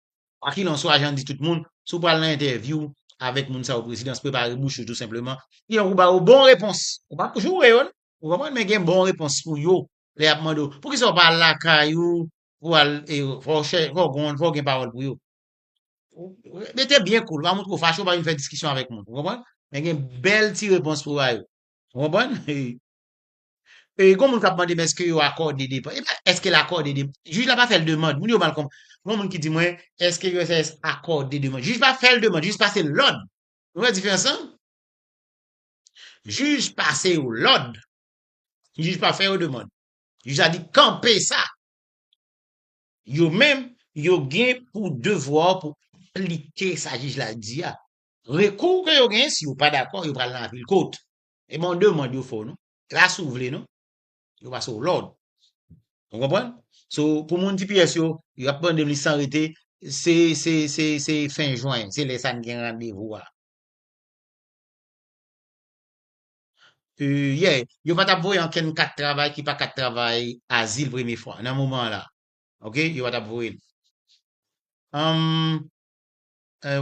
Kwakilanswa, jan di tout moun, si w pral nan entèvyou avèk moun sa yo prezidans, prepare bouch ou tou senpleman. Sinon pou ba yo bon repons. Ou pa pou joure yo non. Ou konprann men gen bon repons pou yo lè y ap mande w, poukisa ou pa al lakay ou pou al e fò w chè fò w gon fò w gen pawòl pou yo. Rete byen koul, pa montre w fache, ou pa vin fè diskisyon avèk moun. Ou konprann? Men gen bèl ti repons pou w ba yo. Ou konprann? E gon moun kap mande men eske yo akòde depann. Epa eske l akòde depann. Jij la pa fè l demand. Moun yo mal konprann. Gon moun ki di mwen eske uscis akòde demand. Jij pa fè l demand. Jij pase l lòd. Nou wè diferans lan? Jij pase yo lòd. Jij pa fè yo demand. Jij la di kanpe sa. Yo menm yo gen pou devwa pou aplike sa jij la di a. Rekou ke yo gen si yo pa dakò yo pral nan apil kot. E bon demand yo fè w non. Klas ou vle non. Yo pase w lòd. Ou konprann? So, pou moun tps yo, yo ap mande m li san rete, se, se, se, se fen jwen, se lè sa n gen randevou a. Yè, yo pa t ap voye ankenn kat travay ki pa kat travay azil premye fwa, nan moman an la. Ok, yo pa t ap voye l. Humm, eh,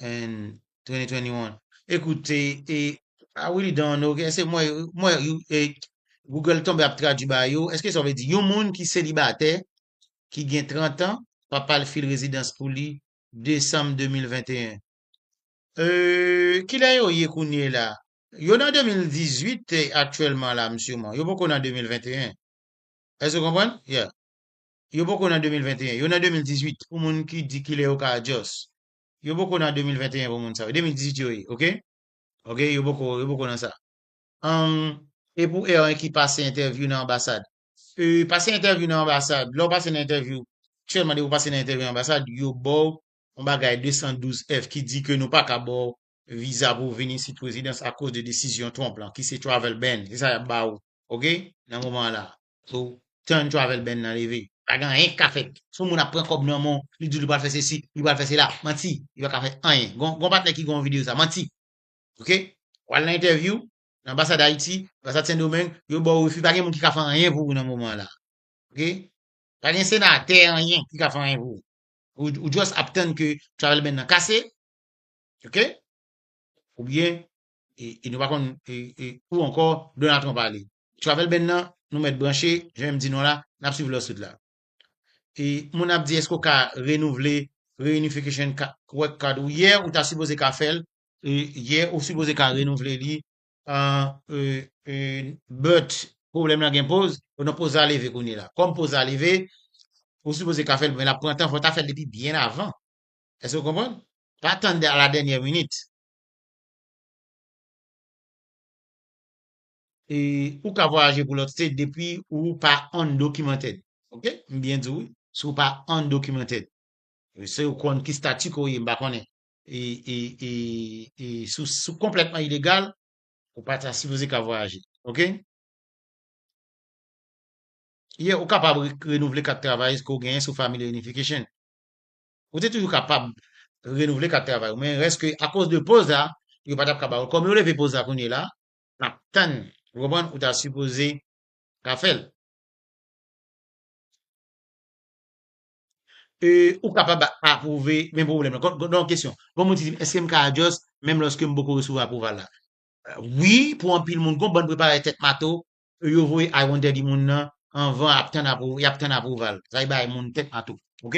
2021 Ekoute e I really don't know ok se mwen mwen e Google tonbe ap tradwi ba yo eske sa vle di yon moun ki selibatè ki gen 30 an papa l fil rezidans pou li Desanm 2021 e kilè yo ye kounye la yo nan 2018 aktyèlman la m siman yo poko nan 2021 èske w konprann yeah Yo poko nan 2021, yo nan 2018 pou moun ki di kilè yo ka adjust. Yo poko nan 2021 pou moun sa yo, 2018 yo ye ok. Ok yo poko yo poko nan sa. Humm e pou erwen ki pase entèvyou nan anbasad? Eee pase entèvyou nan anbasad, lè w pase nan entèvyou, aktyèlman depi w pase nan entèvyou nan anbasad yo ba w yon bagay 212 F ki di ke nou pa ka ba w viza pou w vin isit rezidans akoz de desizyon Trump lan ki se travel ban, se sa y ap ba w ok nan moman an la a. So time travel band nan leve. Pa gen anyen ki ka fèt. Si yon moun ap pran kòb nan menw, li diw li pral fè sesi, li pral fè sela, manti, li paka fè anyen. Gen yon patnè ki gen yon video sa, manti. Ok? Ou al nan entèvyou, nan anbasad Ayiti, anbasad Sendomeng, yo baw refi, pa gen moun ki ka fè anyen pou ou nan moman an la. Ok? Pa gen senatè anyen ki ka fè anyen pou ou. Ou ou just ap tann ke travel band nan kase. Ok? Oubyen e nou pa konn ou ankò Donald Trump ale. Travel ban nan nou mèt branche jan M di nou la nap swiv lawsuit la. E moun ap di eske ou ka renouvle reunification work card ou yè ou ta sipoze ka fèl, yè ou sipoze ka renouvle li but pwoblèm lan gen poz ou nan poz la leve kounye la. Kòm poz la leve ou sipoze ka fèl men lap pran tan fò ta fèl depi byen avan. Eske ou konprann? Pa tann a la dènyè minit. E ou ka vwayaje pou lòt state depi ou pa undocumented. Ok? M byen di w wi. Si w pa undocumented. Se ou konn ki statut ke w ye, m pa konnen. E, e, e, e si w, si w konplètman ilegal, ou pa ta sipoze ka vwayaje. Ok? Yeah, ou kapab renouvle kat travayis ke w genyen sou Family Reunification. Ou te toujou kapab renouvle kat travay ou men rès ke akoz de poz la yo pa tap ka ba ou. Kòm yo leve poz la kounye la, nap tann. Ou konprann? Ou ta sipoze ka fè l. E ou kapab apwouve men pwoblèm la. Kon gen yon kesyon. Gon moun ki di m eske m ka adjòs menm lòske m poko resevwa apwouval la? Wi pou anpil moun. Gon bann preparè tèt mato e yo voye I wonder di moun nan anvan ap tann apwou yap tann apwouval sa se bay moun tèt mato ok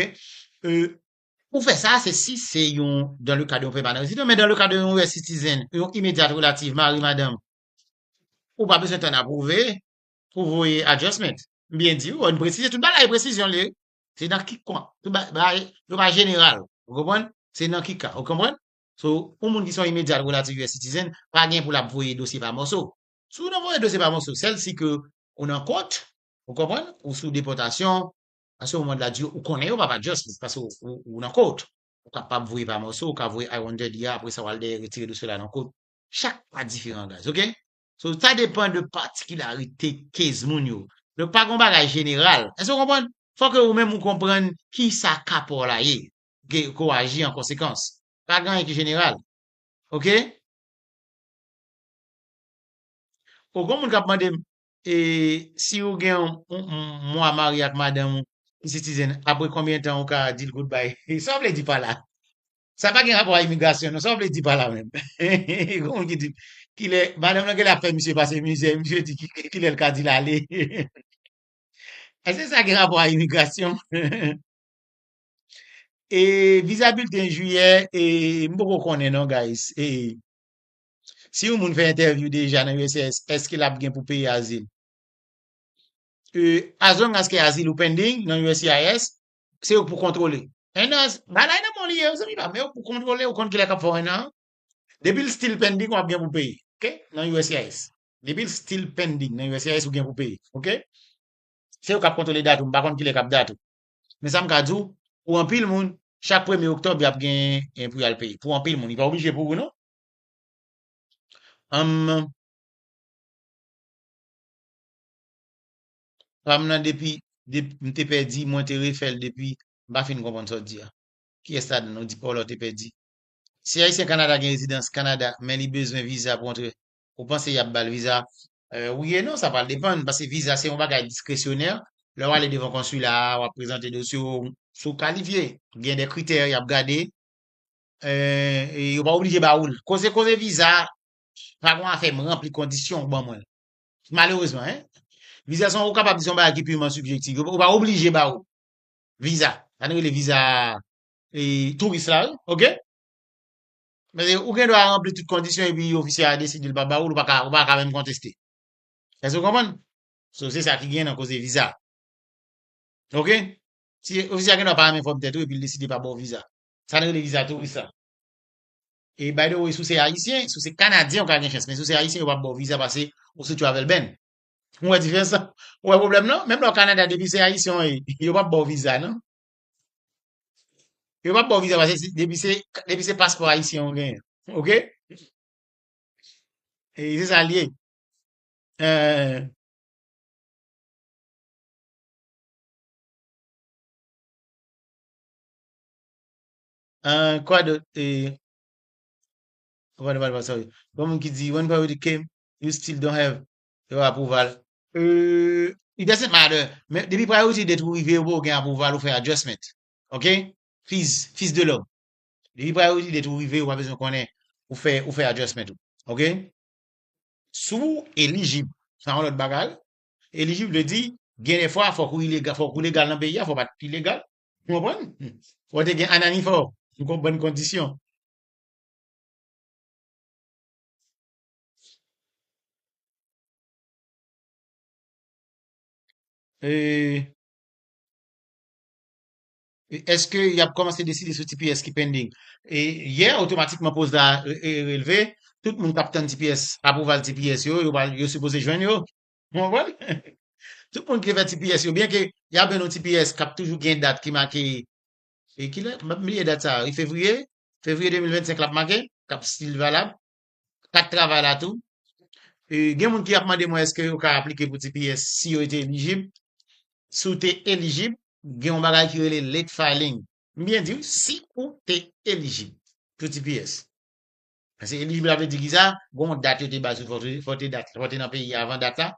e pou fè sa se si se yon dan le ka de yon pèmanan rezidan men dan le ka de yon US citizen yon imedyat relativ mari madanm ou pa bezwen tann apwouve pou voye adjustment m byen di wi m presize tout bagay gen presizyon l ye wi se nan ki kon tout bagay yo pa jeneral ou konprann se nan ki ka ou konprann so yon moun ki se yon imedyat relativ US citizen pa gen pou lap voye dosye pa mòso Si w nan Floride ou se pa Monso, sèl si ke ou nan kont, ou konprann, ou sou depòtasyon, a se moman la di ou konnen yo pa pa just paske ou nan kont. Ou kapab voye pa Monso, ou ka voye I-130 a, apre sa w al dèyè retire dosye w la nan kont. Chak ka diferan guys ok. So sa depan de patikilarite case moun yo. Donk pa gen yon bagay jeneral. Èske w konprann? Fò ke ou menm ou konprann ki sa ka pa w la ye. Ok, ke w aji an konsekans. Pa gen anyen ki jeneral. Ok. Oh gon moun kap mandem e si ou gen yon mwa marye ak madanm ou ki sitizen apre konbyen tan ou ka dil goodbye sa ou vle di pa la sa pa gen rapò a imigrasyon non sa ou vle di pa la menm gon moun ki di kilè madanm lan genlè ap fè misye pase mizè misye di kilèl ka dil ale eske sa gen rapò a imigrasyon e viza bilten jiyè e m poko konnen non guys e Si yon moun fè entèvyou deja nan uscis, èske l ap gen pou peye azil? As long as ke azil ou pending nan uscis, se yo k pou kontwole. 1 an, bagay nan men w li ye zanmi pa m, men yo k pou kontwole, ou konn kilè k ap fè 1 an an. Depi l still pending, w ap gen pou peye, ok, nan uscis. Depi l still pending nan uscis, ou gen pou peye, ok. Se yo k ap kontwole dat ou, m pa konn kilè k ap dat ou. Men sa m ka di w, pou anpil moun, chak premye oktòb y ap gen pou y al peye. Pou anpil moun, li pa oblije pou ou non. Humm Pam nan depi m te pèdi mwen te refèl depi m pa fin konprann sa w di a kiyès ladan n ou di Paula te pèdi si ayisyen Canada gen rezidans Canada men li bezwen viza pou antre ou panse yap bal viza wi e non sa pral depann paske viza se yon bagay diskresyonè lè w ale devan konsila a wap prezante dosye w si w kalifye gen de kritè yap gade Yo pa oblije ba ou l. Koze koze viza, pa gon afè m ranpli kondisyon ou ban mwen. Malerezman hein. Viza son ou kapab di son bagay ki purman subjectif. Yo pa oblije ba ou viza. Sa nou rele viza touris la wi ok. Paske ou gen dwa ranpli tout kondisyon epi ofisye a deside l pa ba ou l, ou pa ka menm konteste. Èske ou konprann? So se sa ki gen nan koze viza. Ok. Si ofisye a gen dwa pa renmen fòm tèt ou epi l deside pa ba ou viza. Sa nou rele viza touris la. E by the way, si w se Ayisyen, si w se Kanadyen ou ka gen chans, men si w se Ayisyen yo pap ba w viza pase ou sou travel ban. Ou wè diferans la? Ou wè pwoblèm lan? Menm lè w Kanada depi se Ayisyen w ye, yo pap ba w viza non. Yo pap ba w viza pase se depi se depi se paspò Ayisyen w genyen. Ok? E se sa l ye. Ah, kwa do, eh, what about, what, sorry. Yon moun ki di, when priority came, you still don't have your approval. Euh, it doesn't matter. Men, depi priority date ou rive, ou pa ou gen approval, ou fè adjustment. Ok? Fils, fils de l'homme. Depi priority date ou rive, ou pa bezwen konnen, ou fè, ou fè adjustment ou. Ok? Sou elijib, sa yon lòt bagay. Elijib vle di, gen de fwa fòk ou ilegal, fòk ou legal nan peyi a, fòk ou pa ilegal. Ou konprann? Fò w te gen anani fò w konprann kondisyon. Eske y ap kòmanse deside sou tps ki pending? Yè, otomatikman poz la relve, tout moun k ap tann tps, apwouval tps yo, yo sipoze jwenn yo. Ou konprann? Tout moun ki te fè tps yo, byen ke y ap jwenn yon tps k ap toujou gen dat ki make, e kilè, m ap bliye dat sa a wi, fevriye, fevriye 2025 l ap make, k ap stil valab, kat travay la tou. E gen moun ki ap mande mwen èske yo ka aplike pou tps si yo te elijib. Si w te elijib, gen yon bagay ki rele late filing. M byen di w, si ou te elijib pou tps. Paske elijib la vle di ki sa, gen yon dat yo te bay sou fò w te dat, fò w te nan peyi a avan dat la,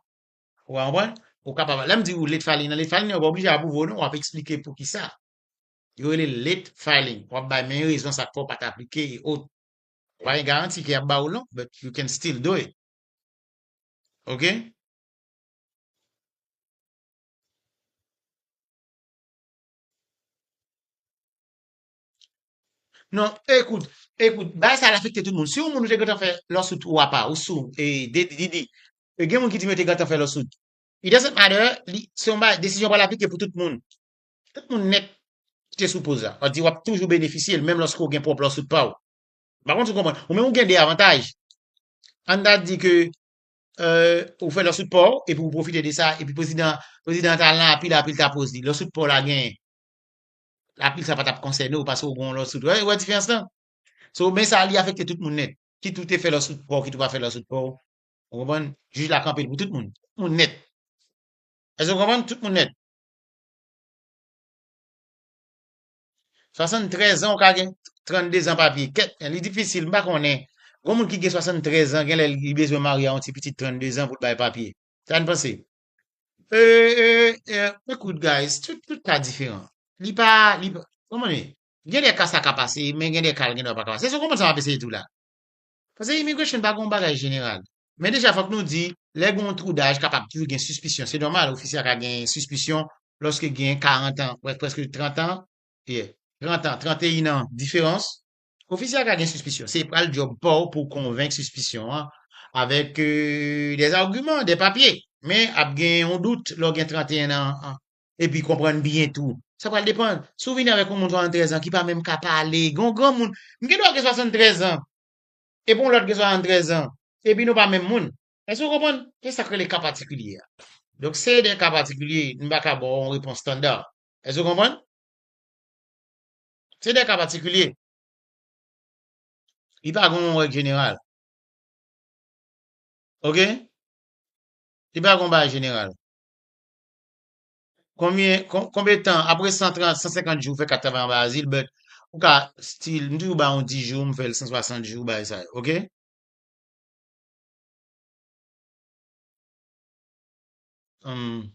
ou ka konprann, ou kapab, lè m di ou late filing nan, late filing nan yo pa oblije apwouve w non, w ap eksplike pou ki sa, yo rele l late filing, w ap bay men rezon sa k fè w pa t aplike e ot, ou pa gen garanti ke y ap ba ou l non, but you can still do it ok. Non, ekout, ekout, bagay sa al afekte tout moun. Si yon moun ou te gentan fè lawsuit ou apa, ou sou, e, de, Didi, e gen moun ki di m yo te gentan fè lawsuit. It doesn't matter, li, se yon bagay, desizyon pral aplike pou tout moun. Tout moun nèt ki te sou poz la. Sa vle di w ap toujou benefisye l menm lòske w gen pwòp lawsuit pa w. M pa konn si w konprann. Ou menm ou gen de avantaj. Ann ta di ke, e, ou fè lawsuit pa w, epi ou pwofite de sa, epi prezidan, prezidan an ta al nan apil, apil ta poz li. Lawsuit pa w la genyen. apil sa pa tap konsène w paske w gen yon lòt soud. Ou wè diferans lan? So, men sa li afekte tout moun nèt. Kit ou te fè lòt soud pa w, kit ou pa fè lòt soud pa w, ou konprann, jij la kanpe l pou tout moun. Tout moun nèt. Èske nou konprann? Tout moun nèt. 73 an ou ka gen 32 zan papye. Kè, li difisil, m pa konnen. Gon moun ki gen 73 zan, gen lè li bezwen marye a yon ti pitit 32 zan pou l bay papye. Sa n panse? Ekout guys, tout ka diferan. Li pa, li pa, konprann? Gen de ka sa ka pase, men gen de ka l gen dwa pa ka pase. Èske w konprann sa m ap eseye di w la? Pase immigration pa gen yon bagay jeneral. Men deja fòk nou di, lè gen yon twou daj kapab toujou gen sispisyon. Se nòmal, ofisye a ka gen sispisyon lòske gen 40 an, prèske 30 an, ye, 30 an, 31 an diferans. Ofisye a ka gen sispisyon. Se pral djòb pa w pou w konvenk sispisyon an avèk dè agiman, dè papye. Men, ap gen yon dout lè w gen 31 an an. Epi konprann byen tou. Sa pral depann. Si w vini avèk yon moun 73 an ki pa menm ka pale, gen yon granmoun. M gen dwa gen 73 an. Epi yon lòt gen 73 an. Epi nou pa menm moun. Èske w konprann? Se sa k rele ka patikilye a. Donk, se dè ka patikilye. M pa ka ba w yon repons standard. Èske w konprann? Se de ka patikilye. Li pa gon yon règ jeneral. Ok? Li pa gon bagay jeneral. Konbyen, konbyen tan, apre 130, 150 jou, ou fè kat travay anba azil, but, ou ka still, m toujou ba yon 10 jou, m fè l 160 jou, bagay sa yo. Ok? Humm.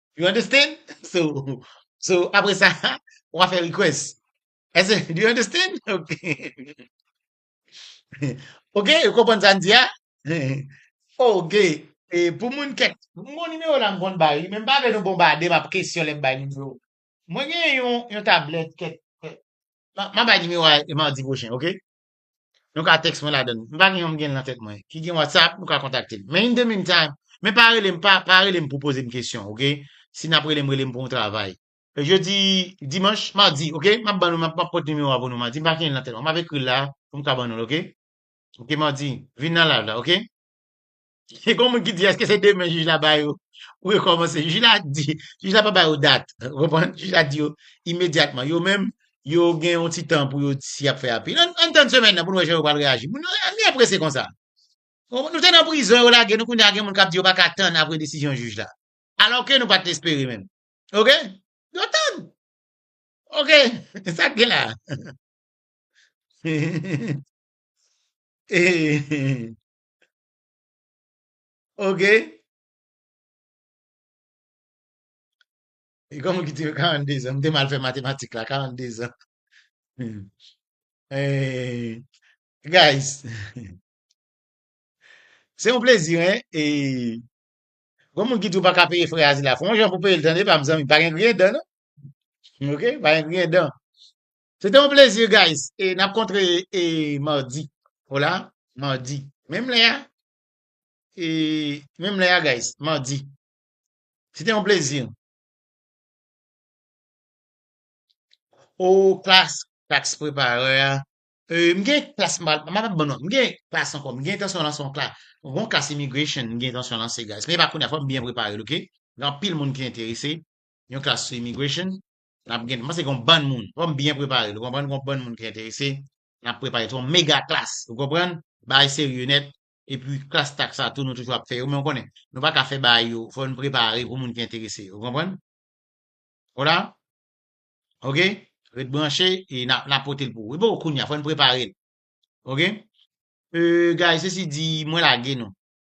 You understand? So, so apre sa, wa fè request. Ese, do you understand? Ok. Ok, yo konprann sa n di a? Ok, e pou moun kèk, bon nimewo la m konn bay wi, men m pa vle nou bonbade m ap kesyon lè m bay nimewo. Mwen gen yon, yon tablèt kèk, kèk, m ap bay nimewo a madi pwochen, ok? Nou ka text mwen ladan. M pa gen yon m gen nan tèt mwen. Ki gen WhatsApp, nou ka kontakte m. Men in the mean time, men pa rele m pa pa rele m pou poze m kesyon ok. Si nap rele m rele m pou yon travay. Jodi dimanche, mardi ok. Map ban nou map map pot nimewo a pou nou mardi. M pa gen l nan tèt mwen. Map ekri l la pou m ka ban nou l ok. Ok mardi, vin nan live la ok. Gen yon moun ki di eske se demen jij la ba yo pou yo kòmanse. Jij la di, jij la pa ba yo dat, ou konprann? Jij la di yo imedyatman. Yo menm, yo gen yon ti tan pou yo di si y ap fè apil. Ann tann semèn nan pou nou wè jan yo pral reyaji. Moun yo ann gen prese konsa. Nou te nan prizon, yo lage nou, kounye a gen moun k ap di yo pa ka tann apre desizyon jij la. Alò ke nou pa t espere menm. Ok? Yo tann. Ok, se sa k gen la a. Ok. E kòman ki te 42 zan? M te mal fè matematik la, 42 zan. Eh, guys, se yon plezi, hein, e gò moun ki di ou pa ka peye frè azil la, fè yon jan pou peye l tande pa m zanmi, pa gen griyen dan non, ok, pa gen griyen dan. Se te yon plezi guys e nap kontre e mardi. Hola mardi menm lè a e menm lè a guys mardi. Se te yon plezi. Oh klas klas prepare a. E m gen klas m pa ban non. M gen klas ankò m gen entansyon lanse yon klas. Yon bon klas immigration m gen entansyon lanse guys men e pa kounya fò m byen prepare l ok. Gen anpil moun ki enterese yon klas sou immigration Nap gen, mpanse gon bann moun, fòm byen prepare, nou konprann gon bann moun ki enterese, nap prepare son mega klas, ou konprann, bagay serye nèt, epi klas tax sa tou nou toujou ap fè yo, men ou konnen, nou paka fè bagay yo, fòn prepare pou moun ki enterese, ou konprann? Hola? Ok? Ret branche, e nap, nap potel pou ou. Li poko kounya, fòn preparel. Ok? Euh, guys, sesi di, mwen lage nou.